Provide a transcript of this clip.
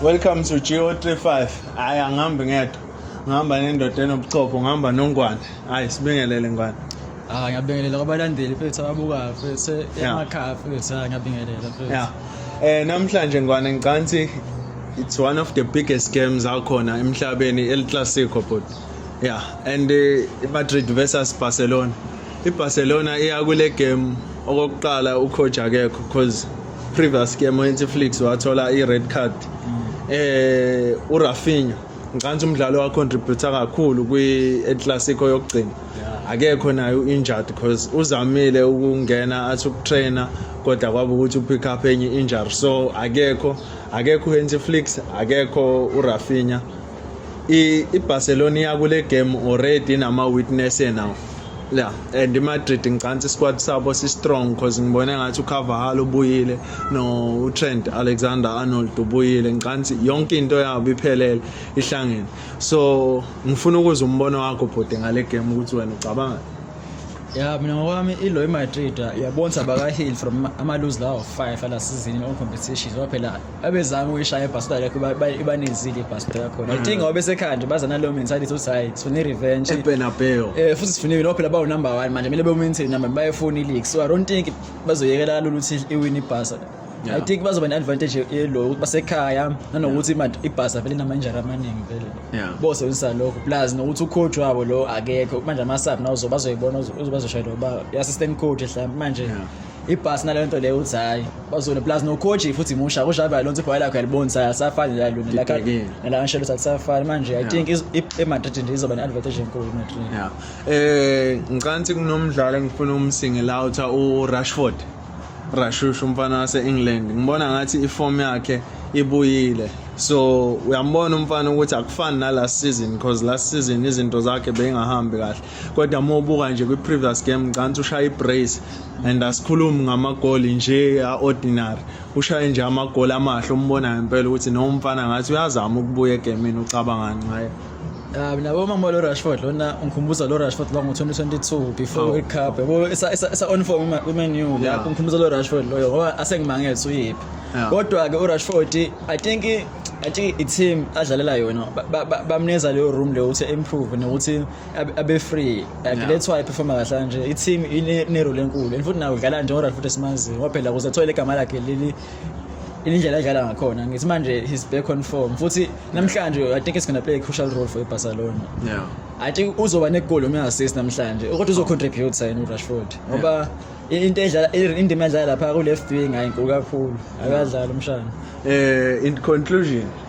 Welcome to GO35. Hayi angihambi ngedwa. Ngihamba nendoda enobuchopho, ngihamba nongwane. Hayi sibingelele ngwane. Ah ngiyabingelela kwabalandeli fethu ababukayo fethu emakhaya fethu ah ngiyabingelela fethu. Yeah. Eh namhlanje ngwane ngicanthi it's one of the biggest games akhona emhlabeni El Clasico but yeah and uh, Madrid versus Barcelona. IBarcelona iya kule game okokuqala ucoach akekho because previous game uNtflix wathola i-red card eh uRafinha ngicabanga umdlalo wa contributor kakhulu kwi-Clasico yokugcina akekho naye u-injured because uzamile ukungena athi ukutrainer kodwa kwaba ukuthi upick up enye injury so akekho akekho uHenry Flicks akekho uRafinha iBarcelona iyakule game already nama witness now la and iMadrid ngicantsa isquad sabo si strong because ngibone ngathi uCarvajal ubuyile no uTrent Alexander Arnold ubuyile ngicantsa yonke into yabo iphelele ihlangene so ngifuna ukuzwa umbono wakho bhuti ngale game ukuthi wena ucabanga ya mina ngokwami ilo iMadrid yabonsa baka heal from ama lose lawo 5 ala season on competition waphela abezama ukuyishaya ibhasita yakho iba- iba- ibanezile ibhasita yakhona i think ngoba besekhaya nje baza nalowo mentality ukuthi hayi sifuna i-revenge ebenabeo Eh, futhi sifunile nabo phela bawu number one manje kumele bewumaintain number one, bayefuna i-league so i don't think bazoyekela kalula ukuthi iwin ibhasa Yeah. i think bazoba ne-advantage yelo ukuthi basekhaya nanokuthi ima- ibhasa vele inama-injari amaningi vele Yeah. bosebenzisa lokho plus nokuthi ucoach wabo lo akekho manje ama-sub nawo uzo- bazoyibona uzo- uzo- bazoshayela uba i-assistant coach mhlawumbe manje Yeah. ibhasi naleyo nto leyo uthi hhayi bazone plus nocoach futhi musha kusho abe lonto ibhola lakho yalibona ukuthi asafani la lona la Libhekile. la Ancelotti akusafani manje i think is- i- eMadrid nje izoba ne-advantage enkulu iMadrid Yeah. Eh ngicabanga ukuthi kunomdlalo engifuna umsingle out uRashford. Rashush umfana wase-England ngibona ngathi iform yakhe ibuyile so uyambona umfana ukuthi akufani nalast season because last season izinto zakhe beyingahambi kahle kodwa uma ubuka nje kwi-previous game ngicabanga ukuthi ushaya i-brace and asikhulumi ngamagoli nje a-ordinary ushaye nje amagoli amahle umbonayo impela ukuthi no umfana ngathi uyazama ukubuya egemini ucabangani ngaye Ah mina bo mama lo Rashford lona ungikhumbuza lo Rashford lo ngo2022 before World Cup yabo esa esa on form ku Man U la ungikhumbuza lo Rashford loyo ngoba asengimangeza uyiphi kodwa ke u Rashford I think I think i team adlalela yona bamneza leyo room leyo ukuthi improve nokuthi abe abe free like Yeah. that's why performa kahle kanje i team ine ine role enkulu and futhi nawo udlala nje oral futhi simazi ngoba phela kuze athole igama lakhe leli indlela adlala ngakhona ngithi manje he's back on form futhi namhlanje i think it's going to play a crucial role for iBarcelona yeah I think uzoba negol noma assist namhlanje ukuthi uzo contribute sayini uRashford ngoba i- into edlala i- indima edlala lapha ku left wing ayinkulu kakhulu akadlala umshana eh in conclusion